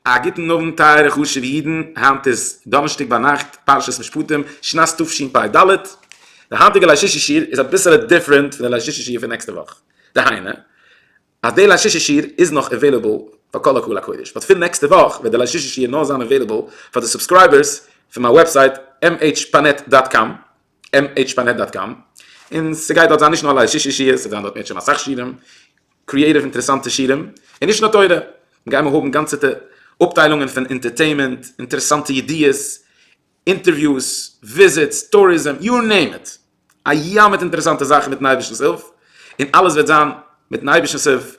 א גוטן אווענט טייערע חשובע אידן, היינט איז דאנערשטאג ביינאכט פרשת משפטים, שנת תשפ ד, די היינטיגע ליל שישי שיעור איז אביסעלע דיפרענט פון די ליל שישי שיעור פון נעקסטע וואך, דהיינו, אז די ליל שישי שיעור איז נאך עוועליבעל פאר כל הקהל הקודש, באט פון נעקסטע וואך וועט די ליל שישי שיעור נאר זיין עוועליבעל פאר די סובסקרייבערס פון מיין וועבסייט MHPanet דאט קאם, MHPanet דאט קאם, און ס'גייט דארט זיין נישט נאר ליל שישי שיעור, ס'וועט זיין דארט מערטשעם אסאך שיעורים, קריעטיוו אינטערעסאנטע שיעורים, און נישט נאר תורה, גיימער האבן גאנצעטע אפטיילונגען פון אינטערטעימענט, אינטערעסאנטע ידיעות, אינטערוויוס, וויזיטס, טוריזם, יו נעים איט, א ים מיט אינטערעסאנטע זאכן מיטן אייבערשטנ'ס הילף, און אלעס וועט זיין מיטן אייבערשטנ'ס הילף,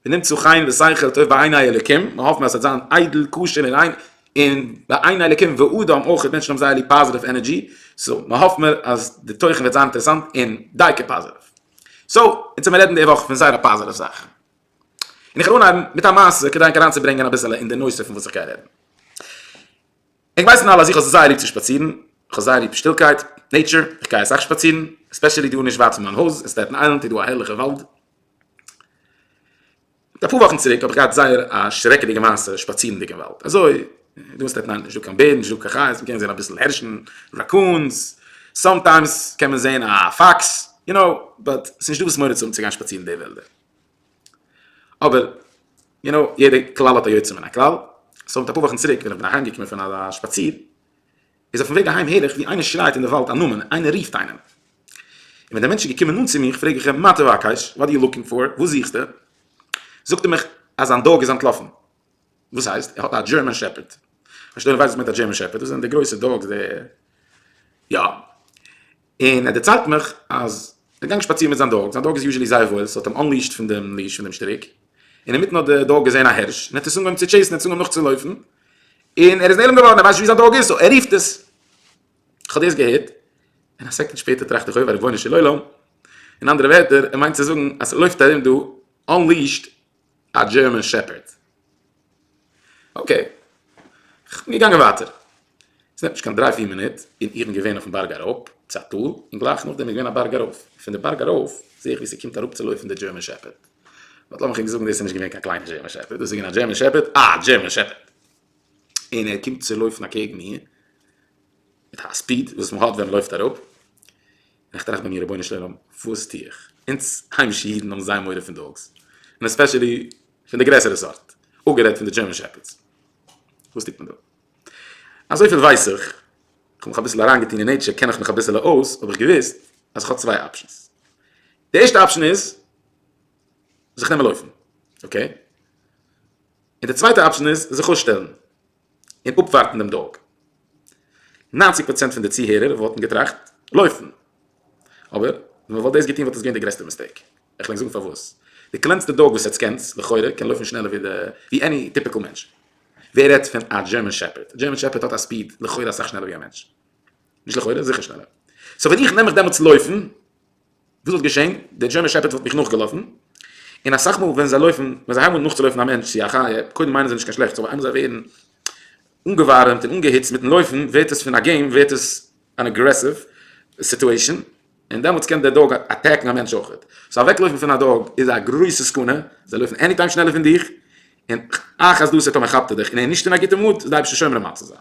ונמצא חן ושכל טוב בעיני אלוקים, מיר האפן אז ס'וועט זיין איידל, כשר און ריין, און בעיני אלוקים ואדם אויך, מענטשן האבן זייער ליב פאזיטיוו ענערדזשי, סאו מ'האפט מיר אז די תוכן וועט זיין אינטערעסאנט און דייקא פאזיטיוו. סאו, יעצט וועט מען רעדן די וואך פון זייער א פאזיטיוו זאך, און איך וועל אנהייבן מיט א מעשה כדי ענק אריינצוברענגען אביסעלע אין די נושא פון וואס איך גיי רעדן. ענק ווייסן אלע אז איך האב זייער ליב צו שפאצירן, איך האב זייער ליב שטילקייט, נעיטשער, איך גיי אסאך שפאצירן, עספעשעלי דא נישט ווייט פון מיין הויז, אין סטעטן איילענד איז דא א הערליכע וואלד, מיט אפאר וואכן צוריק האב איך געהאט זייער א שרעקעדיגע מעשה שפאצירנדיג אין וואלד, אזוי דא אין סטעטן איילענד איז נישט דא קיין בער, נישט דא קיין חיות, מ'קען זען אביסל הערשן, ראקונס, סאמטיימס קען מען זען א פאקס, יו נאו, באט ס'נישט דא וואס מורא צו האבן צו גיין שפאצירן די וועלדער. אבער, יו נאו, יעדע כלל האט א יוצא מן הכלל, סאו מיט אפאר וואכן צוריק ווען איך בין אהיים געקומען פון א שפאציר, איז אויפן וועג אהיים הער איך ווי איינער שרייעט אין די וואלד א נאמען, איינער רופט איינעם. און ווען דער מענטש איז געקומען נאנט צו מיך פרעג איך אים מה תבקש, וואט דו יו לוקינג פאר, וואס זוכסטו? זאגט ער מיך אז זיין דאג איז אנטלאפן. וואס הייסט? ער האט א דזשערמאן שעפערד? פארשטייט נישט וואס מיינט א דזשערמאן שעפערד? דאס זענען די גרויסע דאגס די יא און ער דערציילט מיך אז ער גאנג שפאצירן מיט זיין דאג זיין דאג איז יוזשעלי זייער וואויל ס'האט אים אנליעשט פון דעם ליעש פון דעם שטריק און אינמיטן האט די דאג געזעהן א הערש און האט עס אנגעהויבן צו טשעיסן ער האט עס אנגעהויבן נאכצולויפן און ער איז נעלם געווארן ער ווייסט נישט ווי זיין דאג איז סאו ער רופט עס כ'האב דאס געהערט און א סעקונד שפעטער טראכט איך אויב ריבונו של עולם אין אנדערע ווערטער ער מיינט צו זאגן אז ס'לויפט ארום דא אנליעשט א דזשערמען שעפערד. אקעי. מיר גאנגען ווייטער. עס נעמט נישט קיין דריי פיר מינוט און איך בין געווען אויפן בארג אראפ צו א טאל און גלייך נאכדעם איז געווען א בארג ארויף. פון די בארג ארויף זעה איך ווי ס'קומט אראפצולויפן די דזשערמען שעפערד. באט לאמיך ענק זאגן דאס איז נישט געווען קיין קליינע דזשערמען שעפערד. דאס איז געווען א דזשערמען שעפערד. א דזשערמען שעפערד. און ער קומט צו לויפן אקעגן מיר מיט א ספיד וואס מ'האט ווען מ'לויפט אראפ. און איך טראכט ביי מיר רבונו של עולם וואס טו איך? אונז היימישע אידן האבן זייער מורא פון דאגס, און עספעשעלי פון די גרעסערע סארט, אפגערעדט פון די דזשערמען שעפערדס. וואס טוט מען דא? אזויפיל ווייס איך, איך האב מיך אביסל אריינגעטון אין נעטשער קען איך מיך אביסעלע אויס, האב איך געוואוסט אז איך האב צוויי אפשענס. די ערשטע אפשען איז זיך נעמען לויפן, אקעי? און די צווייטע אפשען איז זיך אויסשטעלן און אפווארטן דעם דאג. ניינציג פראצענט פון די צוהערער וואלטן געטראכט לויפן. אבער ווען מען וואלט דאס געטון וואלט עס געווען די גרעסטע מיסטעיק. איך וועל ענק זאגן פארוואס. די קלענסטע דאג וואס עטס קענטס, לכאורה, קען לויפן שנעלער ווי עני טיפיקל מענטש. ווער רעדט פון א דזשערמען שעפערד. דזשערמען שעפערד האט א ספיד לכאורה אסאך שנעלער ווי א מענטש. נישט לכאורה, זיכער שנעלער. סאו ווען איך נעם מיך דעמאלטס לויפן. וואס וואלט געשען? דער דזשערמען שעפערד וואלט מיך נאכגעלאפן, און אסאך מאל ווען זיי לויפן, ווען זיי הייבן אן נאכצולויפן א מענטש צו א חיה, קודם מיינען זיי נישט קיין שלעכטס, אבער איינמאל זיי ווערן אנגעווארעמט און אנגעהיצט מיטן לויפן, ווערט עס פון א געים ווערט עס אן אגרעסיוו סיטועישאן, און דעמאלטס קען דער דאג אטעקן א מענטש אויכעט. סאו אוועקלויפן פון א דאג איז א גרויסע סכנה, זיי לויפן עניטיים שנעלער פון דיך, און אכ אז דאס איז טאמער כאפט ער דיך און ער איז נישט אין א גוטע מוד, איז די אייבערשטער שומר אים אויף צו זיין.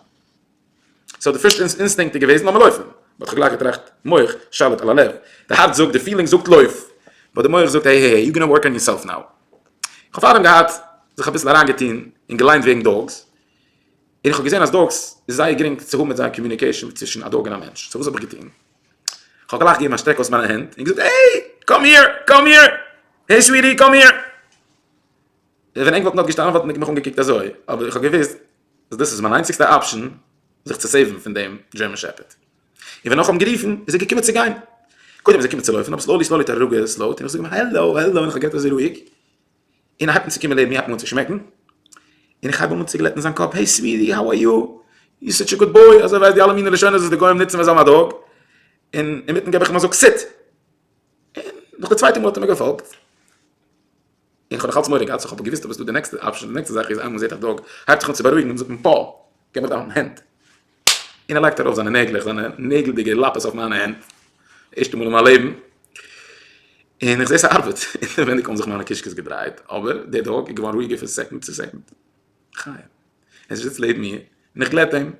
סאו די פירסט אינסטינקט איז געוועזן לאמיר לויפן, באט כ'האב גלייך געטראכט מח שליט על הלב, די הארץ זאגט, די פילינג זאגט לויף, באט די מח זאגט העי העי העי יו גאנא ווארק אן יורסעלף נאו, כ'האב פארדעם געהאט זיך אביסל אריין געטון און געליינט וועגן דאגס, און כ'האב געזען אז דאגס איז זייער גרינג צו האבן מיט זיי קאמיוניקעישן ווי צווישן א דאג און א מענטש, סאו וואס האב איך געטון? כ'האב גלייך געגעבן א שטרעק אויס מיינע הענט און געזאגט העי קאם היער קאם היער העי סוויטי קאם היער, ווען ענק וואלטן דארט געשטאנען וואלטן די מיך אנגעקוקט אזוי, אבער איך האב געוואוסט אז דאס איז מיין איינציגסטע אפשען זיך צו סעיוון פון דעם דזשערמען שעפערד, און ווען נאך האבן גערופן איז ער געקומען צו גיין, קודם איז ער געקומען צו לויפן אבער סלאולי סלאולי האט ער אראפגעסלאוט און איך זאג אים העלאו העלאו און איך האב גערעדט אזוי רואיג און ער הייבט אן צו קומען לעבן מיר הייבט מיר אן צו שמעקן און איך הייב אים אן צו גלעטן זיין קאפ העי סוויטי האו אר יו יו סאטש א גוד בוי אזוי ווייסט די אלע מינע לשונות וואס די גוים נוצן ווען זיי האבן א דאג און אינמיטן געב איך אים א זאג סיט און נאך די צווייטע מאל האט ער מיר געפאלגט. און כ'האב נאך אלץ מורא געהאט סאו כ'האב געוואוסט אז עס איז דא די נעקסטע אפשען, די נעקסטע זאך איז אז מען זעט א דאג הייבט זיך אן צו בארואיגן און זאגט מען פאו! גיב מיר דיין הענט! און ער לייגט ארויף זיינע נעגלעך, זיינע נעגלדיגע לאפעס אויף מיינע הענט, ערשטע מאל אין מיין לעבן, און איך זעה ס'ארבעט, אינעווייניג האבן זיך מיינע קישקעס געדרייט, אבער דער דאג איז געווארן רואיגער פון סעקונד צו סעקונד. חיים. ער איז זיצט לעבן מיר, און איך גלעט אים,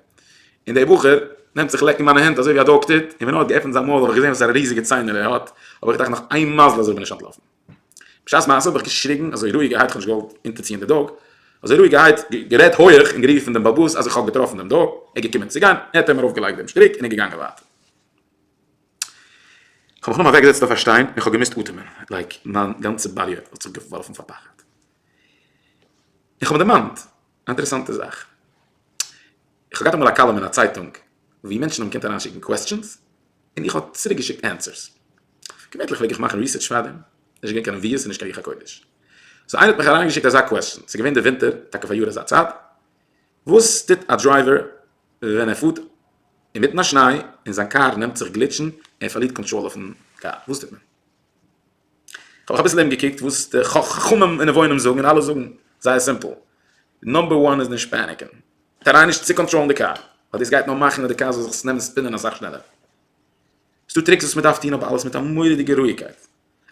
און דער בחור נעמט זיך לעקן מיינע הענט אזוי ווי א דאג טוט, און ווען ער האט געעפנט זיין מויל האב איך געזען וואסארע ריזיגע ציינער ער האט, האב איך געדאכט נאך איין מזל אזוי בין איך אנטלאפן. בשעת מעשה האב איך געשריגן אזוי רואיגערהייט, איך האב נישט געוואלט אונטערציען די דאג, אזוי רואיגערהייט גערעדט הויעך און גערופן דעם באבוס אז איך האב געטראפן דעם דאג, ער איז געקומען צו גיין, ער האט אים ארויפגעלייגט דעם שטריק און איז געגאנגען ווייטער. איך האב מיך נאר אוועקגעזעצט אויף א שטיין און איך האב געמוזט אטעמען, לייק מיין גאנצע באדיע האט זיך געווארפן פאר פחד. איך האב דערמאנט א אינטערעסאנטע זאך. איך האב געהאט אמאל א קאלום אין א צייטונג וואו מענטשן האבן געקענט אריינשיקן קוועסטשענס און איך האב צוריקגעשיקט ענטפערס. געווענליך פלעג איך מאכן ריסערטש פאר דעם, נישט געווען קיין נביאות און נישט קיין רוח הקודש. סאו איינער האט מיך אריינגעשיקט אזא קוועסטשען, ס'איז געווען די ווינטער, טאקע פאריאר אזא צייט, וואס טוט א דרייווער ווען ער פארט אינמיטן א שניי און זיין קאר נעמט זיך גליטשן, ער פארלירט קאנטראל אויפן קאר, וואס טוט מען? כ'האב אביסל ארום געקוקט וואס די חכמים און נבונים זאגן און אלע זאגן זייער סימפל, נאמבער וואן איז נישט פעניקען, טריי נישט צו קאנטראלן די קאר, ווייל דאס גייט נאר מאכן אז די קאר זאל זיך נעמען ספינען אסאך שנעלער, ס'דא טריקס וואס מ'דארף טון אבער אלעס מיט א מורא'דיגע רואיגקייט,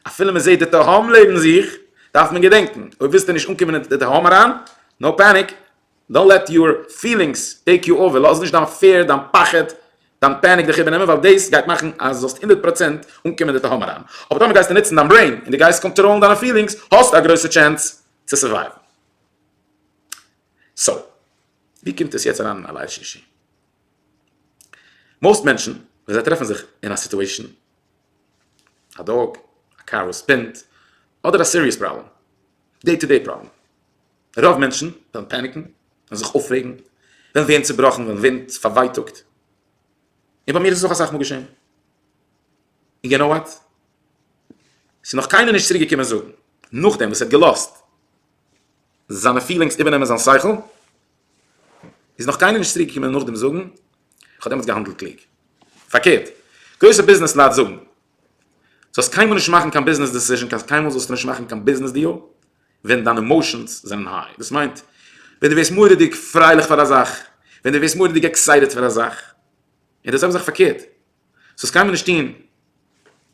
אפילו מ'זעט די תהום לעבן זיך דארף מען געדענקן אויב ווילסטו נישט אנקומען אין די תהום אריין, נאו פעניק. דאנט לעט יור פילינגס טעיק יו אווער, לאז נישט דיין פעיר, דיין פחד, דיין פעניק דיך איבערנעמען, ווייל דאס גייט מאכן אז דו זאלסט הונדערט פראצענט אנקומען אין די תהום אריין, אבער טאמער גייסטו נוצן דיין ברעין און דו גייסט קאנטראלן דיינע פילינגס, האסטו א גרויסע טשענס צו סורווייוון. סאו, ווי קומט עס יעצט אריין אין א לייוו שישי? מאוסט מענטשן ווען זיי טרעפן זיך אין א סיטועשאן, א דאג, א קאר וואס ספינט, אדער א סיריעס פראבלעם, דעי טו דעי פראבלעם, רוב מענטשן וועלן פעניקן, וועלן זיך אויפרעגן, וועלן ווערן צעבראכן, וועלן ווערן פארווייטאגט. און ביי מיר איז עס אויך אסאך מאל געשען. און יו נאו וואט? עס איז נאך קיינער נישט צוריקגעקומען זאגן, נאכדעם וואס ער האט געלאזט זיינע פילינגס איבערנעמען זיין שכל, איז נאך קיינער נישט צוריקגעקומען נאכדעם זאגן, איך האב דעמאלטס געהאנדלט קלוג. פארקערט, גרויסע ביזנעס לייט זאגן, זאלסט קיינמאל נישט מאכן קיין ביזנעס דעסיזשען, קיינמאל זאלסטו נישט מאכן קיין ביזנעס דיעל, ווען דיינע עמאושענס זענען היי, דאס מיינט ווען דו ווערסט מורא'דיג פרייליך פאר א זאך, ווען דו ווערסט מורא'דיג עקסייטעד פאר א זאך, און דאס זעלבע זאך פארקערט, ס'זאלסט קיינמאל נישט טון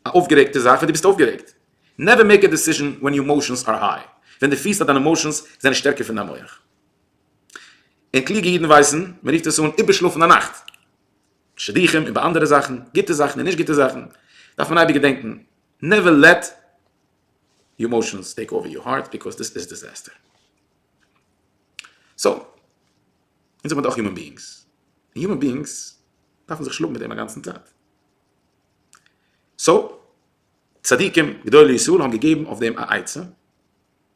א אויפגערעגטע זאך ווען דו ביסט אויפגערעגט, נעווער מעיק א דעסיזשען ווען יור עמאושענס אר היי, ווען דו פילסט אז דיינע עמאושענס זענען שטערקער פון דיין מח, און קלוגע אידן ווייסן, מען רופט עס אן איבערשלאפן א נאכט, שידוכים איבער אנדערע זאכן, גוטע זאכן און נישט גוטע זאכן, דארף מען אייביג געדענקן, נעווער לעט. יור אימאושענס טעיק אווער יור הארט ביקאוז דיס איז דיזעסטער. סאו, אונז זעמיר דאך יומען ביאינגס, און יומען ביאינגס דארפן זיך שלאגן מיט דעם אגאנצן צייט. סאו, צדיקים גדולי ישראל האבן געגעבן אויף דעם א עצה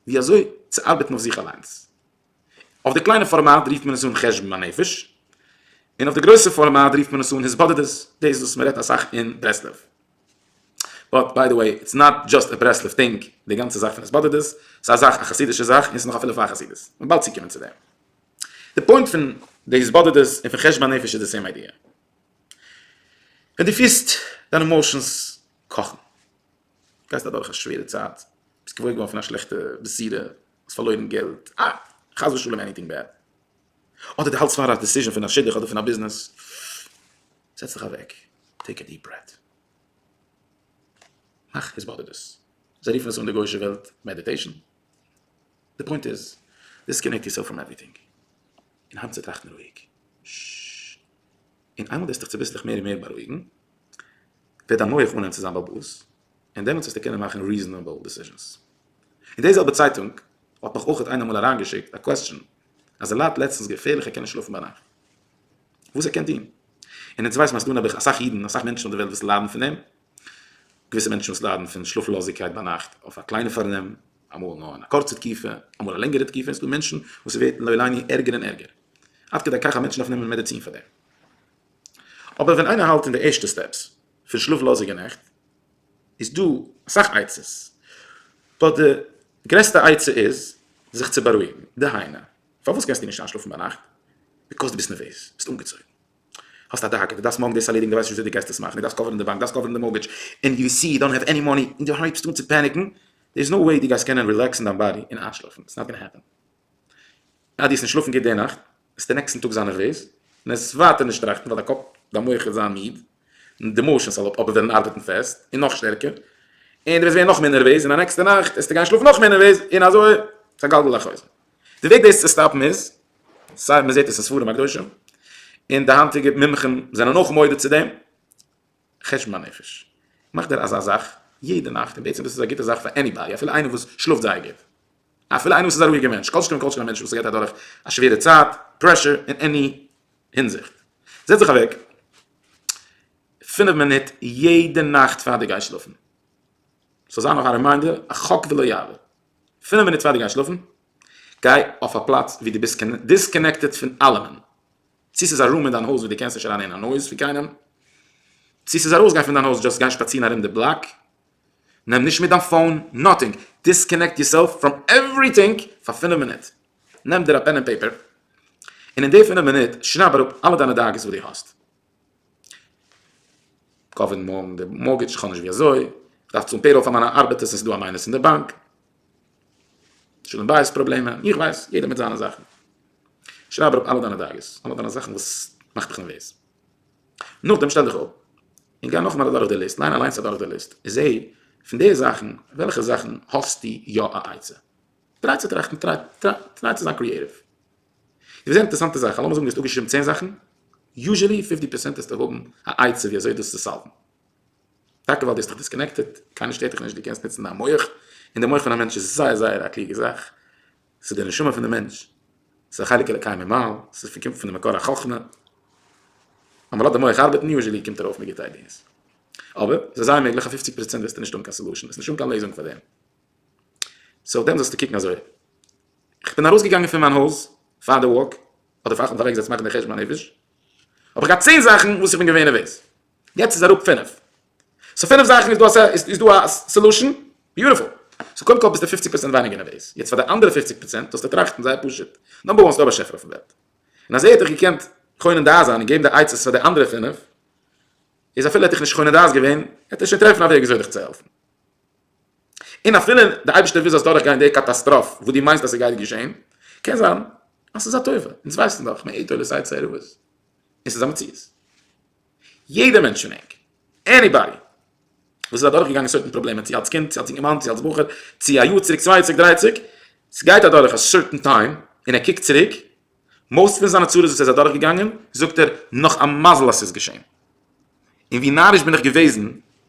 ווי אזוי צו ארבעטן אויף זיך אליינס. אויף די קליינע פארמאט רופט מען עס אן חשבון הנפש, און אויף די גרויסע פארמאט רופט מען עס אן התבודדות, דאס וואס מען רעדט אסאך אין ברסלב. באט ביי די וועי, איטס נאט דזשאסט א ברסלב טינג, די גאנצע זאך פון התבודדות, ס'איז א זאך, א חסידישע זאך, און ס'איז נאך אפילו פאר חסידות. מען וועט באלד צוקומען צו דעם. די פוינט פון די התבודדות און פון חשבון הנפש איז די סעים איידיע. ווען דו פירסט דיינע עמאושענס קאכן, גייסט אדורך א שווערע צייט, ביסט געוואויר געווארן פון א שלעכטע בחירה, האסט פארלוירן געלט, חס ושלום עניטינג בעד, אדער דו האלטסט פאר א דעסיזשען פון א שידוך אדער פון א ביזנעס, זעץ דיך אוועק, טעיק א דיעפ ברעט, מאך עס באדערט דאס, זיי רופן עס אן די גוישע וועלט מעדיטעישן, די פוינט איז, דיסקאנעקט יורסעלף פראם עווריטינג, און הייב אן צו טראכטן רואיג, ששששש, און איינמאל דו וועסט דיך צוביסלעך מער און מער בארואיגן, וועט דיין מח אנהייבן צו זיין בעל בית, און דעמאלטס וועסטו קענען מאכן ריזענעבל דעסיזשענס. אין די זעלבע צייטונג האט מיך אויך איינער אמאל אריינגעשיקט א קוועסטשען אז ער ליידט לעצטנס געפערליכע קענען שלאפן ביינאכט וואס ער קען טון. און אונז ווייסן אז ס'דא נעבעך אסאך אידן אסאך מענטשן אויף די וועלט וואס ליידן פון דעם. געוויסע מענטשן וואס ליידן פון שלאפלאזיגקייט ביינאכט אויף א קליינע פארנעם, אמאל נאר אין א קורצע תקופה, אמאל א לענגערע תקופה, און ס'דא מענטשן וואס ס'ווערט לא עלינו ערגער און ערגער עד כדי כך אז מענטשן דארפן נעמען מעדעצין פאר דעם. אבער ווען איינער האלט אין די ערשטע סטעפס פון שלאפלאזיגע נעכט איז דא אסאך עצות, באט די גרעסטע עצה איז זיך צו בארואיגן, דהיינו, פארוואס קענסטו נישט איינשלאפן ביינאכט? ביקאוז דו ביסט נערוועז, ביסט אנגעצויגן, האסט א דאגה, דו דארפסט מארגן דאס ערלעדיגן, דו ווייסט נישט וויאזוי דו גייסט עס מאכן, דו דארפסט קאווערן די באנק, דו דארפסט קאווערן די מארגעדזש, און יו סי יו דאנט העוו עני מאני, און דו הייבסט אן צו פעניקן, דער איז נאו וועי דו גייסט קענען רילעקסן דיין באדי און איינשלאפן, איטס נאט גאנא העפען, אז דו האסט נישט שלאפן גוט די נאכט, וועסטו נעקסטן טאג זיין נערוועז, און עס ווייטער נישט טראכטן, ווייל דיין קאפ, דיין מח וועט זיין מיד. און די מאושען סאל האט אבער וועלן ארבעטן פעסט און נאך שטערקער און דו וועסט ווערן נאך מער נערוועז און א נעקסטע נאכט וועסטו גיין שלאפן נאך מער נערוועז און אזוי ס'איז א גלגל החוזר. די וועג דאס צו סטאפן איז סיי מ'זעט עס אין ספרים הקדושים און די היינטיגע מומחים זענען אויך מודה צו דעם חשבון הנפש מאך דיר אזא זאך יעדע נאכט און בעצם דאס איז א גוטע זאך פאר עניבאדי אפילו איינער וואס שלאפט זייער גוט אפילו איינער וואס איז א רואיגע מענטש כל שכן וכל שכן א מענטש וואס גייט אדורך א שווערע צייט פרעשור און עני הינזיכט. זעץ זיך אוועק פינף מינוט יעדע נאכט פאר דו גייסט שלאפן. ס'זאל זיין נאך א רימיינדער, א חק ולא יעבור. פינף מינוט פאר דו גייסט שלאפן, גיי אויף א פלאץ וואו דו ביסט דיסקאנעקטעד פון אלעמען. צי ס'איז א רום אין דיין הויז וואו דו קענסט נישט אריין הערן א נויז פון קיינעם, צי ס'איז ארויסגיין פון דיין הויז, דזשאסט גיי שפאצירן ארום די בלאק. נעם נישט מיט דיין פאון, נאטינג. דיסקאנעקט יורסעלף פראם עווריטינג פאר פינף מינוט. נעם דיר א פען און פעיפער און אין די פינף מינוט שרייב אראפ אלע דיינע דאגות וואס דו האסט. קאוויד, מארגן די מארטגעדזש, כ'האב נישט ווי אזוי, כ'דארף צאלן פעיראל פאר מיינע ארבעטערס און ס'איז דא א מיינוס אין די באנק. שלום בית פראבלעמען, איך ווייס, יעדער מיט זיינע זאכן. שרייב אראפ אלע דיינע דאגות, אלע דיינע זאכן וואס מאכט דיך נערוועז. נאכדעם שטעל דיך אפ און גיי נאכאמאל אדורך די ליסט, ליין אליינס אדורך די ליסט און זע פון די זאכן וועלכע זאכן האסטו יא א עצה. טריי צו טראכטן, טריי צו זיין קריעטיוו. דו וועסט זען אינטערעסאנטע זאכן, לאמיר זאגן דו האסט אפגעשריבן צען זאכן, יוזשעלי פיפטי פערסענט וועסטו האבן א עצה ווי אזוי דאס צו סאלוון. טאקע ווייל דו האסט דיך דיסקאנעקטעד, קיינער שטערט דיך נישט, דו קענסט נוצן דיין מח, און דער מח פון א מענטש איז זייער זייער א קלוגע זאך, ס'איז די נשמה פון די מענטש, ס'איז א חלק אלוקי ממעל, ס'קומט פון די מקור החכמה, אמאל האט די מח ארבעטן, יוזשעלי קומט ארויף מיט גוטע איידיעס. אבער, ס'איז זייער מעגליך אז פופציג פערסענט וועסטו נישט האבן קיין סעלושען, וועסט נישט האבן קיין לעזונג פאר דעם. סאו אויף דעם זאלסטו קוקן אזוי. איך בין ארויסגעגאנגען פון מיין הויז פאר די וואק, אדער פאר איך האב מיך אוועקגעזעצט מאכן די חשבון הנפש, האב איך געהאט צען זאכן וואס איך בין געווען נערוועז. יעצט איז אראפ פינף. סאו פינף זאכן איז דא איז דא א סעלושען? ביוטיפול. סאו קודם כל ביסטו פופציג פראצענט ווייניגער נערוועז. יעצט פאר די אנדערע פופציג פראצענט זאלסטו טראכטן זייער פשוט. נאמבער וואן, ס'דא א באשעפער אויפן וועלט. און אז ער האט דיך געקענט קונה דעת זיין און געבן די עצות פאר די אנדערע פינף, איז אפילו ער האט דיך נישט קונה דעת געווען, העט ער שוין טרעפן א וועג וויאזוי דיך צו העלפן. און אפילו די אייבערשטער וויל זאלסט דורכגיין די קאטאסטראף וואס דו מיינסט אז סגייט געשען, קען זיין אז סאיז א טובה, אונז ווייסן דאך מאין תולד סיי צער ובוס, און סאיז א מציאות. יעדער מענטש פון ענק, עניבאדי, וואס איז אדורכגעגאנגען סוירטן פראבלעמען צו אלס קינד צו אלס אינגערמאן צו אלס בחור צו א יאר צוריק צוויי יאר צוריק דריי יאר צוריק, סגייט אדורך א סוירטן טיים און ער קוקט צוריק, מאָסט פֿון זײַנע צרות, װאָס ער איז אַדורכגעגאַנגען, זאָגט ער, נאָך אַ מזל, אַז ס'איז געשען. און װי נאַריש בין איך געװעזן,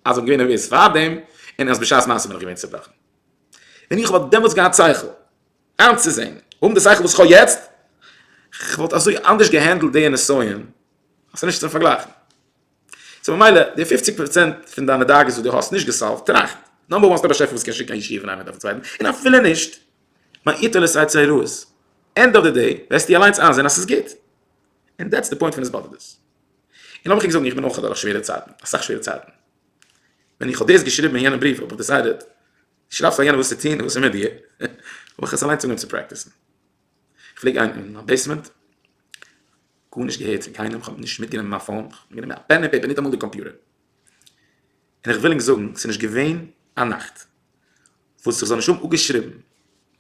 אַז איך בין געװען נערװעז פֿאַר דעם, און אַז בשעת מעשׂה בין איך געװען צעבראָכן. װען איך װאָלט דעמאָלט געהאַט שׂכל אײַנצוזען, האָבן די שׂכל, װאָס איך האָב יעצט, כ'װאָלט אַזױ אַנדערש געהענדלט די נסיון, אַז ס'איז נישט צום פֿאַרגלײַכן. סאָ ממילא, די פֿופֿציק פּראָצענט פֿון דײַנע דאגות, װאָס דו האָסט נישט געסאָלװט, טראַכט נאָר מאָל, האָסט אַ באַשעפֿער, װאָס קען שיקן אַ ישיבֿה אין אַ מיט אַ פֿרײַנד, און אַפֿילו נישט, מה איתו לשאת צעירוס, ענד אוו די דעי וועסטו אליינס איינזעהן אז ס'איז גוט, און דעטס די פוינט פון התבודדות. און לאמיך איר זאגן איך בין אויך אדורך שווערע צייטן, אסאך שווערע צייטן, ווען איך האב דאס געשריבן אין יענעם בריוו האב איך דעסיידעט צו שרייב פאר יענעם וואס צו טון און וואס איז מיט דיר, האב איך עס אליינס אנגעהויבן צו פרעקטיסן. איך פלעג גיין אין מיין בעיסמענט, גארנישט געהערט פון קיינעם, כ'האב נישט מיטגענומען מיין פאון, כ'האב מיטגענומען א פען און פעיפער, ניטאמאל די קאמפיוטער. און איך וויל ענק זאגן ס'איז נישט געווען א נאכט וואס איך זאל נישט האבן אפגעשריבן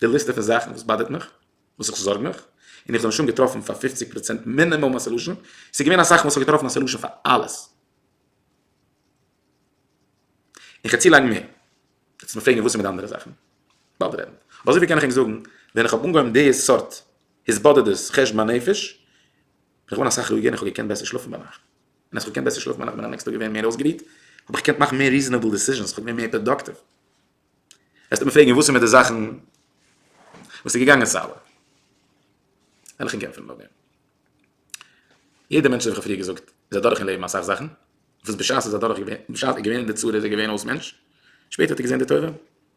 די ליסטע פון זאכן וואס באדערט מיך, וואס איך זארג מיך, און איך זאל נישט האבן געטראפן פאר פופציג פראצענט מינימום א סעלושען, ס'איז געווען אסאך מאל איך האב געטראפן א סעלושען פאר אלעס. און כ'וועל צולייגן מער, וועסט מיר פרעגן וואס איז מיט די אנדערע זאכן? באלד רעדן. אבער אזויפיל קען איך ענק זאגן, ווען איך האב אנגעהויבן די סארט התבודדות חשבון הנפש, בין איך געווארן אסאך רואיגער און איך האב געקענט בעסער שלאפן ביינאכט. ווען איך האב געקענט בעסער שלאפן ווען איך בין א נעקסטאג געווען מער אויסגערוהט האב איך געקענט מאכן מער ריזענעבל דעסיזשענס איך האב געווען מער פראדאקטיוו וועסטו מיר פרעגן וואס איז מיט די זאכן וואס איז געגאנגען סאלא וועל איך אים קעמפן נאכדעם יעדע מענטש האב איך פריער געזאגט איז אדורך אין לעבן אסאך זאכן וואס בשעת איז אדורך געווען בשעת איז געווען אין די צרה איז ער געווען אויס מענטש שפעטער האט ער געזען די טובה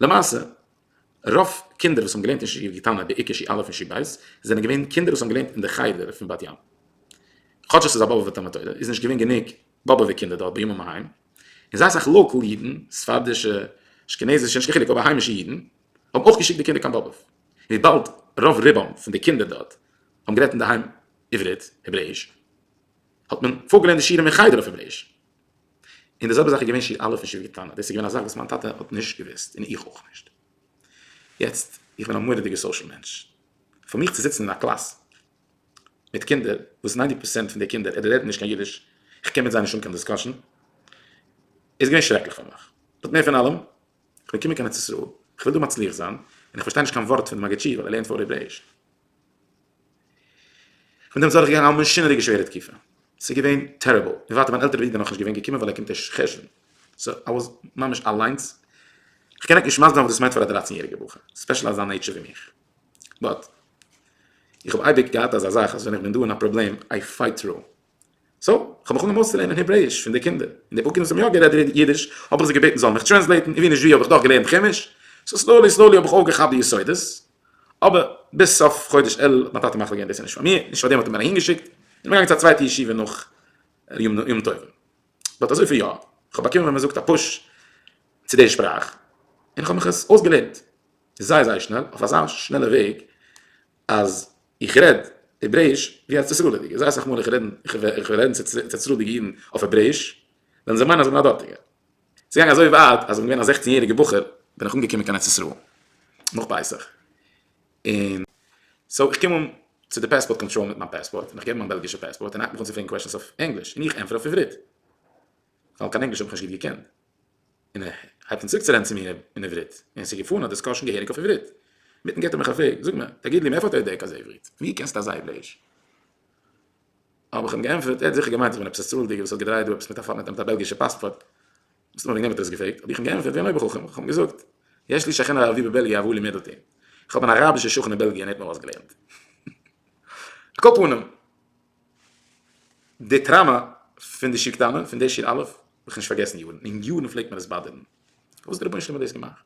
למעשה רוב קינדער וואס האבן געלערנט אין שיעור קטנה בעיקר שי א' און שי ב' זענען געווען קינדער וואס האבן געלערנט אין די חדר פון בת ים כאטש עס איז א באבובע תלמוד תורה איז נישט געווען גענוג באבובע קינדער דארט בימים ההם און זייער אסאך לאקעל אידן ספרדישע אשכנזישע נישט קיין חילוק אבער היימישע אידן האבן אויך געשיקט די קינדער קיין באבוב וויבאלד רוב רובם פון די קינדער דארט האבן גערעדט אינדערהיים עברית העברעאיש האט מען פארגעלערנט די שיעורים אין חדר אויף העברעאיש. און די זעלבע זאך איז געווען שי א' און שי ו טענה, דאס איז געווען א זאך וואס מיין טאטע האט נישט געוואוסט און איך אויך נישט. יעצט, איך בין א מורא'דיגע סאושעל מענטש, פאר מיך צו זיצן אין א קלאס מיט קינדער וואס ניינטי פערסענט פון די קינדער אדער רעדן נישט קיין אידיש, איך קען מיט זיי נישט האבן קיין דיסקאשען, איז געווען שרעקליך פאר מיך. באט מער פון אלעם, איך בין געקומען קיין ארץ ישראל, איך וויל דא מצליח זיין, און איך פארשטיי נישט קיין ווארט פון די מגיד שיעור ווייל ער לערנט פאר עברעיש. פון דעם איז אדורכגעגאנגען א מאשינעריגע שווערע תקופה, ס'איז געווען טעריבל, און ווייטער מיין עלטערער ברודער איז נאכנישט געווען געקומען ווייל ער קומט ערשט חשוון, סאו איי וואס ממש אליינס, כ'קען ענק נישט מסביר זיין וואס דאס מיינט פאר א דרײַצן יעריגע בחור, ספעשל אזא נעיטשער ווי מיך, באט איך האב אייביג געהאט אזא זאך אז ווען איך בין דא אין א פראבלעם איי פייט טרו. סאו, כ'האב מיך אנגעהויבן אויסצולערנען העברעיש פון די קינדער, און די פאר קינדער וואס האבן יא גערעדט אידיש האב איך זיי געבעטן זיי זאלן מיך טרענסלעיטן, און ווי נישט ווי האב איך דאך געלערנט כעמיש, סאו סלאולי סלאולי האב איך אויפגעכאפט די יסודות, אבער ביז סוף חודש אלול האט מיין טאטע מחליט געווען דאס איז נישט פאר מיר, נישט פארדעם האט ער מיר אהינגעשיקט, איך בין געגאנגען צו א צווייטע ישיבה נאך יום טובים, באט אזויפיל יא, כ'האב באקומען ווען מ'זאגט א פוש צו די שפראך, און כ'האב מיך עס אויסגעלערנט זייער זייער שנעל, אויף אזא שנעלע וועג. אז איך רעד העברעיש ווי ארץ ישראל'דיגע, זייער סאך מאל איך רעדן איך איך וועל רעדן צו צו ארץ ישראל'דיגע אידן אויף העברעיש, וועלן זיי מיינען אז איך בין א דארטיגער. ס'געגאנגען אזוי ווייט אז איך בין געווען א זעכצן יעריגע בחור בין איך אנגעקומען קיין ארץ ישראל נאך פסח, און סאו איך קום אן צו די פעספארט קאנטראל מיט מיין פעספארט און איך געב מיין בעלגישע פעספארט און ער הייבט מיך אן צו פרעגן קוועשאנס אויף ענגליש און איך ענטפער אויף עברית ווייל קיין ענגליש האב איך נישט גוט געקענט. און ער הייבט אן צוריק צו רעדן צו מיר אין עברית, און עס איז געפארן א דיסקאשן געהעריג אויף עברית. מיטן געט ער מיך א פרעג, זאג מיר, תגיד לי, מאיפה אתה יודע כזה עברית? וואו קענסטו אזא העברעיש? האב איך אים געענטפערט, ער האט זיכער געמיינט איך בין עפעס א ספרדי'גער וואס האט געדרייט דא עפעס מיט א פארנעטער מיט א בעלגישע פאספארט. מסתמא וועגן דעם האט ער עס געפרעגט, האב איך אים געענטפערט ווי אן אויבערחכם, איך האב אים געזאגט, יש לי שכן ערבי בבעלגיע אבו לימד אותי, איך האב אן אראבישע שכן אין בעלגיע און ער האט מיר אויסגעלערנט. על כל פנים. די טראמא פון די שיר קטנה, פון די שיר אלף, האב איך נישט פארגעסן יארן, און יארן פלעגט מיר עס באדערן. פארוואס דער רבונו של עולם האט דאס געמאכט?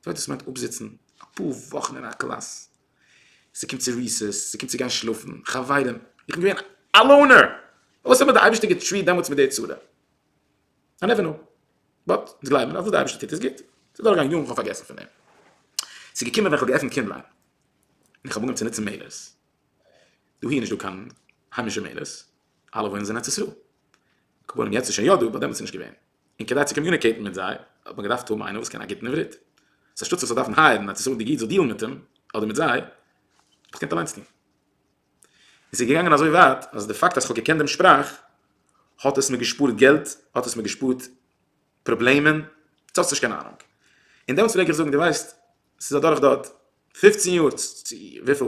ס'וועט דאס מיינט אפזיצן אפאר וואכן אין א קלאס, ס'קומט צו ריסעס, ס'קומט צו גיין שלאפן, חברים, איך בין געווען א לאונער, פארוואס האט מיר דער אייבערשטער געטריעט דעמאלטס מיט די צורה? איי נעווער קנאו. באט, אונז גלייבן אז וואס דער אייבערשטער טוט איז גוט. ס'איז דורכגעגאנגען יארן, כ'האב פארגעסן פון דעם. ס'איז געקומען ווען כ'האב געעפנט קינדליין, און איך האב אנגעהויבן צו נוצן מעילערס. דאהי איז נישט דא קיין היימישע מעלות, אלע וואוינען זיי אין ארץ ישראל. קבלנים יעצט איז שוין יא דא, באט דעמאלטס איז נישט געווען. און כדי צו קאמיוניקעיטן מיט זיי האט מען געדארפט האבן איינער וואס קען א גוטן עברית. סאו אנשטאט צו זאל דארפן הייערן אן ארץ ישראל'דיגע איד זאל דיעלן מיט אים אדער מיט זיי, האב איך געקענט אליינס טון. און ס'איז געגאנגען אזוי ווייט אז די פאקט אז כ'האב געקענט דעם שפראך האט עס מיר געשפארט געלט, האט עס מיר געשפארט פראבלעמען, דו האסט נישט קיין אהנונג. און דעמאלטס פלעג איך זאגן, דו ווייסט, ס'איז אדורך דארט פֿופֿצן יאר צו וויפיל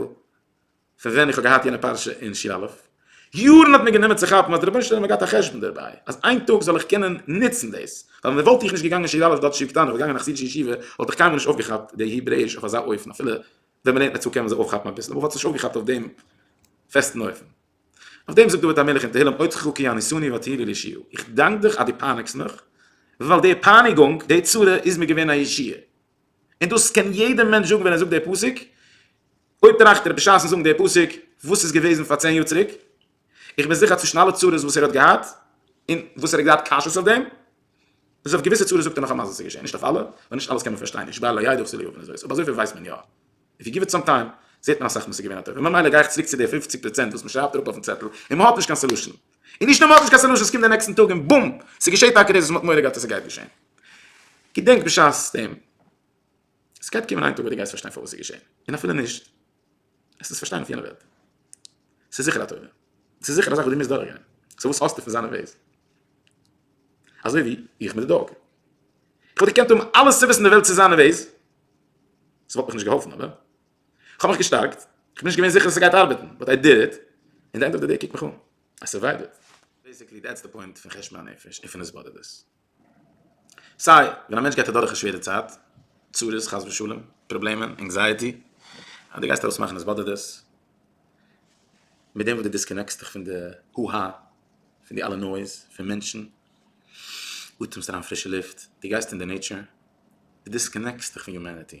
פון ווען איך האב געהאט יענע פרשה אין ש ל, יארן האט מיר גענומען צו כאפן אז דער רבונו של עולם האט געהאט א חשבון דערביי אז איין טאג זאל איך קענען נוצן דאס, ווייל אויב וואלט איך נישט געגאנגען ש ל דארט שיעור קטן אויב געגאנגען א חסידישע ישיבה וואלט איך קיינמאל נישט אויפגעכאפט די העברעיש אויף אזא אופן אפילו ווען מען לערנט נצו קען מען זיך אויפכאפן אביסל אבער כ'וואלט עס נישט אויפגעכאפט אויף דעם פעסטן אופן. אויף דעם זאגט דוד המלך אין תהילים עוד חוקי יעניסוני ותהילי לישיעה איך דאנק דיך אז דו פייניגסט מיך ווייל די פייניגונג די צרה איז מיר געווען א ישועה און דאס קען יעדער מענטש זאגן ווען ער זאגט די פסוק, אויב טראכט ער בשעת'ן זאגן די פסוק וואס איז געוועזן פאר צען יאר צוריק, איך בין זיכער צווישן אלע צרות וואס ער האט געהאט און וואס ער האט געהאט קשיות אויף דעם, איז אויף געוויסע צרות זאגט ער נאכאמאל אז עס איז געשען, נישט אויף אלע, ווייל נישט אלעס קען מען פארשטיין, איש באר לא ידע וכו' אבער אזויפיל ווייסט מען יא, איף יו גיוו איט סאם טיים זעט מען אסאך מאל ס'איז געווען א טוב, ממילא גיי איך צוריק צו די פֿופֿציק פראצענט וואס מ'שרייבט אראפ אויפן צעטל און מ'האט נישט קיין סאלושען. און נישט נאר מ'האט נישט קיין סעלושען ס'קומט די נעקסטן טאג און בום! ס'געשעהט טאקע דאס וואס מ'האט מורא געהאט אז ס'גייט געשעהן. געדענק בשעת דעם. ס'גייט קומען איין טאג ווען דו גייסט פארשטיין פארוואס ס'איז געשעהן. און אפילו נישט. עסט עס פארשטיין אויף יענע וועלט. ס'איז זיכער א תורה. ס'איז זיכער א זאך וואס דו מוזט דורך גיין. סאו וואס האסטו פון זיינע וועיס? אזוי ווי איך מיט די דאג. כ'וואלט געקענט האבן אלע סיבות אין די וועלט צו זיינע וועיס. ס'וואלט מיך נישט געהאלפן אבער. כ'האב מיך געשטארקט, כ'בין נישט געווען זיכער אז ס'גייט ארבעטן, באט איי דיד איט, און די ענד אוו די דעי קוק מיך אן, איי סורווייווד. בעיסיקלי דעטס די פוינט פון חשבון הנפש און פון עס באדערט דאס. סיי ווען א מענטש גייט אדורך א שווערע צייט, צרות חס ושלום, פראבלעמען, ענקזייעטי, אז דו גייסט ארויס מאכן עס באדערט דאס, מיט דעם וואס דו דיסקאנעקסט דיך פון די הו הא, פון די אלע נויז, פון מענטשן, אטעמסט אריין פרישע לופט, דו גייסט אין די נעיטשער, דו דיסקאנעקסט דיך פון יומעניטי.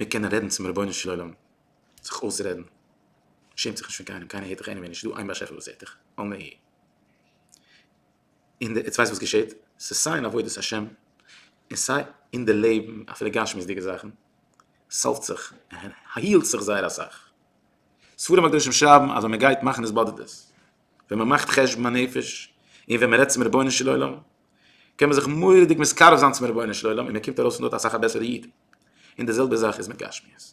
מיר קענען רעדן צום רבונו של עולם, זיך אויסרעדן, שעמט זיך נישט פון קיינעם, קיינער הערט דיך עניוועי נישט, ס'איז דא איין באשעפער וואס הערט דיך, אל נא ה'. און די, יעצט ווייסט וואס געשעהט, ס'איז סיי אין עבודת השם, און סיי אין די לעבן, אפילו גשמיות'דיגע זאכן, סאלווט זיך, היעלט זיך זייער אסאך. ספרים הקדושים שרייבן אז ווען מען גייט מאכן התבודדות, ווען מען מאכט חשבון הנפש, און ווען מען רעדט צום רבונו של עולם, קען מען זיך מורא'דיג מתקרב זיין צום רבונו של עולם און מען קומט ארויס פון דארט אסאך א בעסערע איד, און די זעלבע זאך איז מיט גשמיות,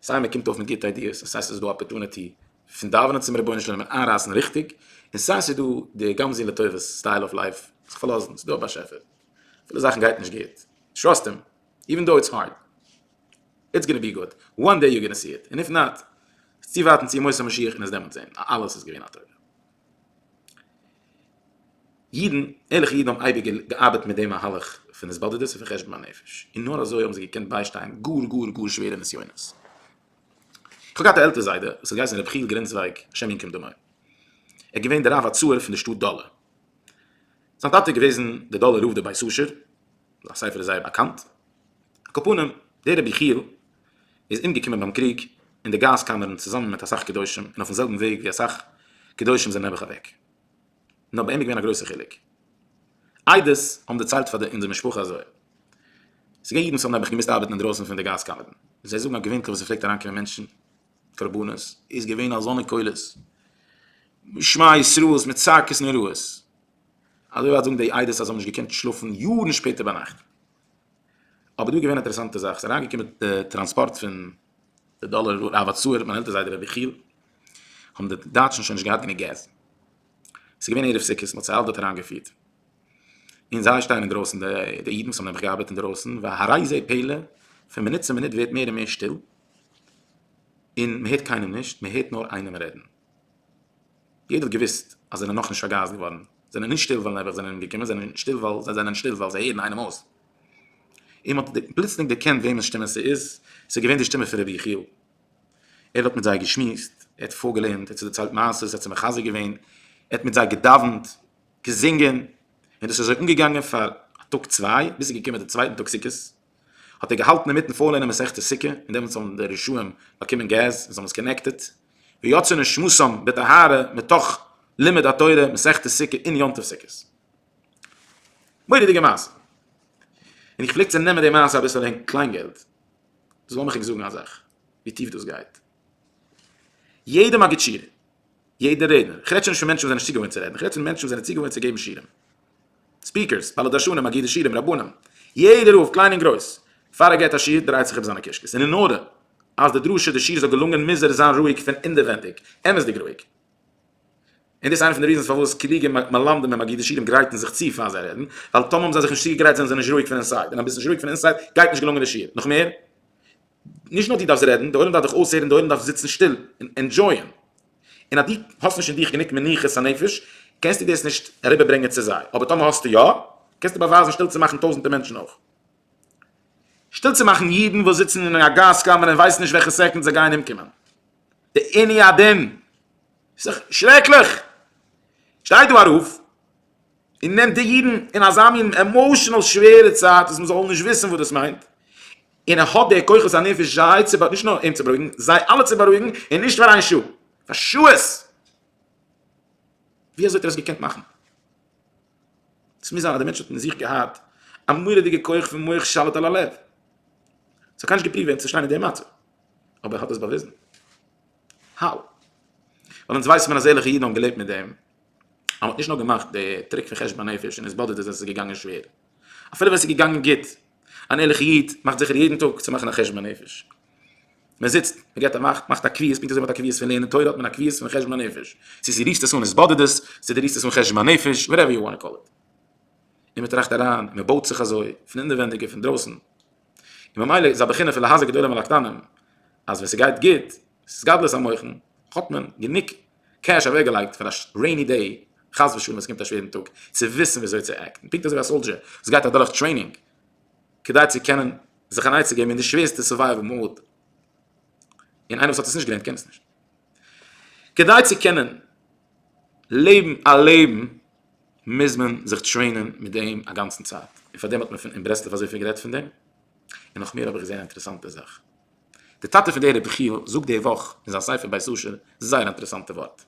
סיי מען קומט אויף מיט גוטע איידיעס און סיי ס'איז דא אפערטוניטי פון דאווענען צום רבונו של עולם און איינרייסן ריכטיג, און סיי ס'איז דא די גמזין לטובות סטייל אוו לייף, זיך פארלאזן, ס'איז דא א באשעפער, אפילו זאכן גייט נישט גוט, טראסט אים, איווען דאו איטס הארד, איטס גאנע בי גוד, וואן דעי יו גאנע סי איט, און איף נאט, איז צו ווארטן צו ימות המשיח און עס דעמאלטס זען, אז אלעס איז געווען א טובה. אידן, ערליכע אידן האבן אייביג געארבעט מיט די מהלך פון התבודדות און פון חשבון הנפש, און נאר אזוי האבן זיי געקענט ביישטיין גאר גאר גאר שווערע נסיונות. כ'האב געהאט א עלטער זיידע וואס האט געהייסן ר' חיל גרינצווייג השם ינקום דמו, ער איז געווען דער רב הצעיר פון דער שטאט דאלע. זיין טאטע איז געוועזן דער דאלער רב דער בית אשר, זיין ספר איז זייער באקאנט. על כל פנים, דער רבי חיל איז אומגעקומען ביים קריג אין די גאז קאמערן צוזאמען מיט אסאך קדושים און אויפן זעלבן וועג ווי אסאך קדושים זענען נעבעך אוועק נאר ביי אים איז געווען א גרויסער חילוק עדות האבן דערציילט פאר די אונזער משפחה אזוי ס'איז געווען אידן וואס האבן נעבעך געמוזט ארבעטן אינדרויסן פון די גאז קאמערן זיי זאגן אז געווענטליך ווען ס'פלעגט אריינקומען מענטשן קרבנות איז געווען אזאנע קולות שמע ישראל'ס מיט צעקות נוראות אזוי ווייט זאגן די עדות אז זיי האבן נישט געקענט שלאפן יארן שפעטער ביינאכט. אבער דא איז געווען א אינטערעסאנטע זאך, ס'איז אריינגעקומען די טראנספארט פון די דאלער רב הצעיר, מיין עלטער זיידע ר' יחיאל, האבן די דייטשן שוין נישט געהאט גענוג געז, ס'איז געווען ערב סוכות, מ'האט זיי אלע דארט אריינגעפירט, און זיי שטייען אינדרויסן, די אידן וואס האבן נעבעך געארבעט אינדרויסן, והראי זה פלא, פון מינוט צו מינוט ווערט מער און מער שטיל, און מ'הערט קיינעם נישט, מ'הערט נאר איינעם רעדן. יעדער האט געוואוסט אז זענען נאכנישט פארגייסט געווארן, זענען נישט שטיל ווייל נעבעך זענען אומגעקומען, זענען שטיל ווייל זיי זענען שטיל ווייל זיי הערן איינעם אויס. און מען האט פלוצלינג דערקענט וועמענס שטימע ס'איז, ס'איז געווען די שטימע פון רבי יחיאל. ער האט מיט זיי געשמועסט, ער האט פארגעלערנט, ער האט זיי דערציילט מעשות, ער האט זיי מחזק געווען, ער האט מיט זיי געדאווענט, געזינגען, און דאס איז אזוי אנגעגאנגען פאר א טאג צוויי, ביז ס'איז געקומען די צווייטן טאג סוכות, האט ער געהאלטן אינמיטן פארלערנען מסכת סוכה, און דעמאלטס האבן די רשעים באקומען געז און זיי האבן עס קאנעקטעד, ויצא נשמתם בטהרה מתוך לימוד התורה מסכת סוכה אין יום טוב סוכות. מורא'דיגע מעשה. און איך פלעג צו נעמען די מעשה אביסעלע אין קליינגעלט. דאס לאמיך ענק זאגן א זאך, ווי טיף דאס גייט. יעדע מגיד שיעור, יעדע רעדנער, איך רעד שוין נישט פון מענטשן וואס זענען נישט צוגעוואוינט צו רעדן, איך רעד פון מענטשן וואס זענען צוגעוואוינט צו געבן שיעורים, ספיקערס, בעלי דרשנים, אגודת שירים, רבנים, יעדער רב, קליין און גרויס, פאר ער געבט א שיעור דרייט זיך אום זיינע קישקעס, און אין ארדער, אז די דרשה, די שיעור זאל געלונגען מוז ער זיין רואיג פון אינדערווענדיג, אמת'דיג רואיג. און דאס איז איינע פון די ריזענס פארוואס קלוגע מלמדים און אגודת שירים גרייטן זיך צו פאר זיי רעדן, ווייל טאמער האבן זיי זיך נישט צוגעגרייט זענען זיי נישט רואיג פון אינסייד, און אז ביסט נישט רואיג פון אינסייד גייט נישט געלונגען די שיעור. נאכמער, נישט נאר דו דארפסט רעדן, די עולם דארף דיך אויסהערן, די עולם דארף זיצן שטיל און ענדזשויען. און אז דו האסט נישט אין דיך גענוג מנוחת הנפש, קענסטו דאס נישט אריבערברענגען צו זיי. אבער טאמער האסטו יא, קענסטו באווייזן שטיל צו מאכן טויזנטער מענטשן אויך. שטיל צו מאכן אידן וואס זיצן אין א גאז קאמערע און ווייסן נישט וועלכע סעקונד זיי גייען אומקומען. די עיני הדין. ס'איז דאך שרעקליך! שטיי דא ארויף. און נעמט די אידן אין אזא מין עמאושענעל שווערע צייט אז מען זאל נישט וויסן וואס דאס מיינט, און ער האט די כוחות הנפש זיי צו נישט נאר אים צו בארואיגן, זיי אלע צו בארואיגן, און נישט פאר איין שעה, פאר שעות! ווי אזוי האט ער עס געקענט מאכן? עס מוז זיין אז דער מענטש האט אין זיך געהאט א מורא'דיגע כח פון מח שליט על הלב. עס האט קיינער נישט געפריווט ווען צו שטיין אין די מצב, אבער ער האט עס באוויזן. האו? ווייל אונז ווייסן מיר אז ערליכע אידן האבן געלעבט מיט דעם, אז מ'האט נישט נאר געמאכט די טריק פון חשבון הנפש און עס באדערט אז עס איז געגאנגען שווער, אפילו ווען עס איז געגאנגען גוט, אן ערליכע איד מאכט זיכער יעדן טאג צו מאכן א חשבון הנפש, מען זיצט, מען געבט א מאכט, מאכט א קביעות, פונקט אזוי ווי מען האט א קביעות פון לערנען תורה האט מען א קביעות פון חשבון הנפש, צו זי רירסט עס אן עס באדערט עס, צו די רירסט עס אן חשבון הנפש, וואטעווער יו וואנט טו קאל איט, און מען טראכט אריין, און מען בויט זיך אזוי, פון אינערווענדיג און פון דרויסן, און ממילא איז א בחינה פון להזהר גדולים על הקטנים, אז ווען ס'גייט גוט, ס'איז גדלות המוחין, האט מען גענוג. קעש אוועק געלייגט פאר א רעיני דעי חס ושלום עס קומט א שווערן טאג צו וויסן וויאזוי צו עקטן פונקט אזוי ווי א סאלדשער וואס גייט אדורך טרעינינג כדי צו קענען זיך אן עצה געבן אין די שווערסטע סורווייוועל מאד און איינער וואס האט עס נישט געלערנט קען עס נישט כדי צו קענען לעבן א לעבן מוז מען זיך טרעינען מיט דעם א גאנצן צייט און פאר דעם האט מען אין ברסלב אזויפיל גערעדט פון דעם און נאך מער האב איך געזען א אינטערעסאנטע זאך. דער טאטע פון דער רבי חייא זאגט די וואך אין זיין ספר בית אשר זייער א אינטערעסאנטע ווארט.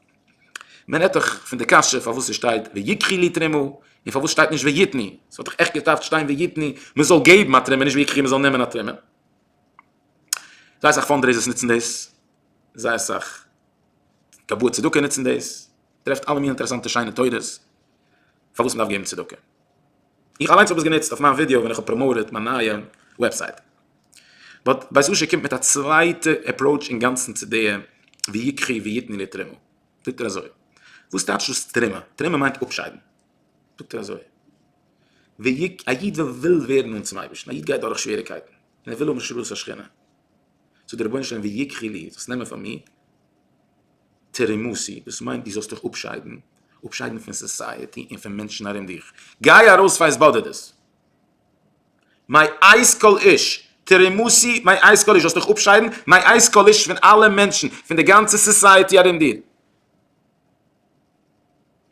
מען רעדט דאך פון די קשיא פארוואס עס שטייט ויקחי לי תרומה און פארוואס שטייט נישט ויתני. עס וואלט דאך עכט געדארפט שטיין ויתני מען זאל געבן א תרומה נישט ויקחי מען זאל נעמען א תרומה. זייער אסאך פאנדרעיזערס נוצן דאס, זייער אסאך קבוע צדקה נוצן דאס, טרעפט אלע מינע אינטערעסאנטע שיינע תורות פארוואס מען דארף געבן צדקה. איך אליינס האב עס גענוצט אויף מיין ווידעא ווען איך האב פראמאוטעד מיין נייע וועבסייט. באט בית אשר קומט מיט א צווייטע עפראוטש אינגאנצן צו די ווי יקחי ויתני לי תרומה. זאגט ער אזוי. וואס טייטש דאס תרומה? תרומה מיינט אפשיידן. זאגט ער אזוי. ווי יק א איד ווען וויל ווערן נאנט צום אייבערשטן. א איד גייט דורך שוועריקייטן. און ער וויל האבן השראת השכינה. זאגט דער רבונו של עולם ווי יקחי לי. זאלסט נעמען פאר מיר. תרמוסי, דאס מיינט דו זאלסט דיך אפשיידן, אפשיידן פון סאסייעטי און פון מענטשן ארום דיך, גיי ארויס פאר עס באדערט דאס. מיי אייז קאליש, תרמוסי, מיי אייז קאליש, זאלסט דיך אפשיידן, מיי אייז קאליש, פון אלע מענטשן, פון די גאנצע סאסייעטי ארום דיר.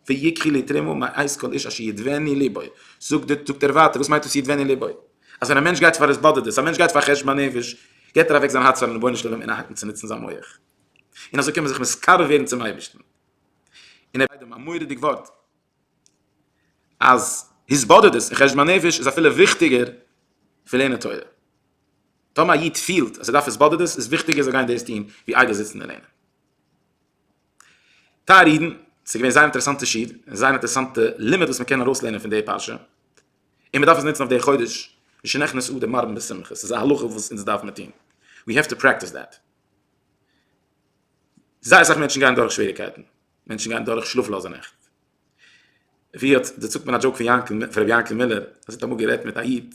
ויקחי לי תרימו מאיז כל איש אשר ידבני ליבו, זאגט ער ווייטער וואס מיינט דאס ידבני ליבו? אז ווען א מענטש גייט פאר התבודדות, א מענטש גייט פאר חשבון נפש, געט ער אוועק זיין הארץ פארן רבונו של עולם און ער הייבט אן צו נוצן זיין מח, און אזוי קען מען זיך מתקרב ווערן צום אייבערשטן, און ער זאגט דעם א מורא'דיג ווארט, אז התבודדות און חשבון נפש איז אפילו וויכטיגער פון לערנען תורה, טאמער א איד פילט אז ער דארף התבודדות איז וויכטיגער זאל גיין דאס טון ווי איידער זיצן און לערנען. טייערע אידן, ס'איז געווען זייער אינטערעסאנטע שיעור, זייער אינטערעסאנטע לימוד וואס מ'קען ארויסלערנען פון די פרשה, און מ'דארף עס נוצן אויף די חודש, משנכנס אדר מרבין בשמחה, ס'איז א הלכה וואס אונז דארף מען טון, ווי העוו טו פרעקטיס דעט. זייער אסאך מענטשן גייען דורך שוועריגקייטן, מענטשן גייען דורך שלאפלאזע נעכט, ווי האט, דערציילט מען א דזשאוק פון יענקל, פון ר' יענקל מילער, אז ער האט אמאל גערעדט מיט א איד,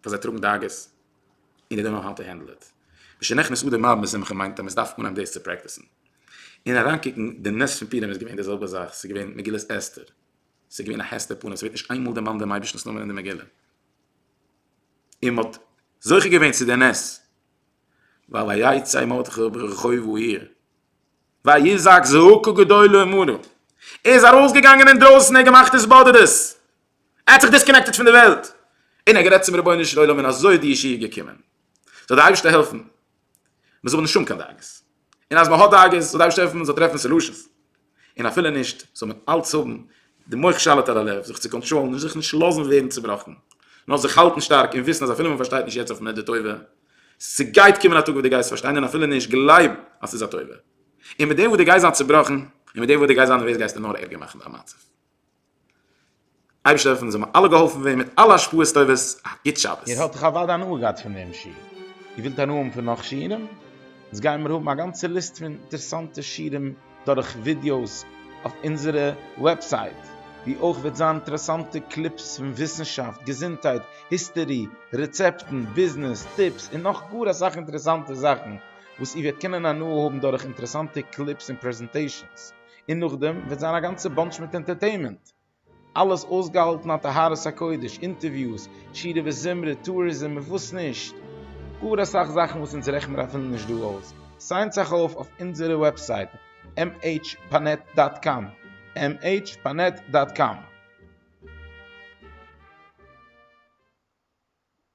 פאר זיי טראגן דאגות און זיי דאנט נאו האו טו הענדל איט. משנכנס אדר מלבין בשמחה מיינט אז מען דארף אנהייבן דאס צו פרעקטיסן און אריינקוקן, די נס פון פורים איז געווען די זעלבע זאך, ס'איז געווען מגילת אסתר, ס'איז געווען א הסתר פנים, ס'ווערט נישט איינמאל דערמאנט דעם אייבערשטנ'ס נאמען אין די מגילה, און מען האט זוכה געווען צו די נס, ועל היצא מרדכי ברחוב העיר ויזעק זעקו גדול ומרה, ער איז ארויסגעגאנגען אינדרויסן, ער האט געמאכט התבודדות. ער האט זיך דיסקאנעקטעד פון די וועלט און ער האט גערעדט צום רבונו של עולם און אזוי איז די ישועה געקומען. זאל דער אייבערשטער העלפן מען זאל האבן נישט האבן קיין דאגות, און אז מען האט דאגות זאל דער אייבערשטער העלפן מען זאל טרעפן סעלושענס, און אפילו נישט זאל מען אלץ האבן די מח שליט על הלב, זיך צו קאנטראלן, זיך נישט לאזן ווערן צובראכן, נאר זיך האלטן שטארק און וויסן אז אפילו מען פארשטייט נישט יעצט אויף מדה טובה, ס'גייט קומען א טאג וואס דו גייסט פארשטיין און אפילו נישט גלייב אז ס'איז א טובה, און מיט דעם וואס דו גייסט זיין צובראכן און מיט דעם וואס דו גייסט זיין נערוועז גייסטו נאר ערגער מאכן דיין מצב. אייבערשטער און זיי האבן אלע געהאלפן ווען מיט אלע השפעות טובות, א גוט שבת. איר האט דאך אוודאי הנאה געהאט פון דעם שיעור, איר ווילט הנאה האבן פון נאך שיעורים? אונז גיימיר האבן א גאנצע ליסט פון אינטערעסאנטע שיעורים דורך ווידיאוס אויף אונזערע וועבסייט, ווי אויך וועט זיין אינטערעסאנטע קליפס פון וויסנשאפט, געזונטהייט, היסטערי, רעצעפטן, ביזנעס, טיפס, און נאך גאר אסאך אינטערעסאנטע זאכן וואס איר וועט קענען הנאה האבן דורך אינטערעסאנטע קליפס און פרעזענטעישאנס, און נאכדעם וועט זיין א גאנצע באנטש מיט ענטערטעינמענט, אלעס אויסגעהאלטן א טהרת הקודש, אינטערוויוס, שירה וזמרה, טוריזם און וואס נישט, גאר אסאך זאכן וואס אונז רעכן מיר אפילו נישט דא אויס, סיינט זיך אויף אויף אונזערע וועבסייט mhpanet דאט קאם, mhpanet דאט קאם.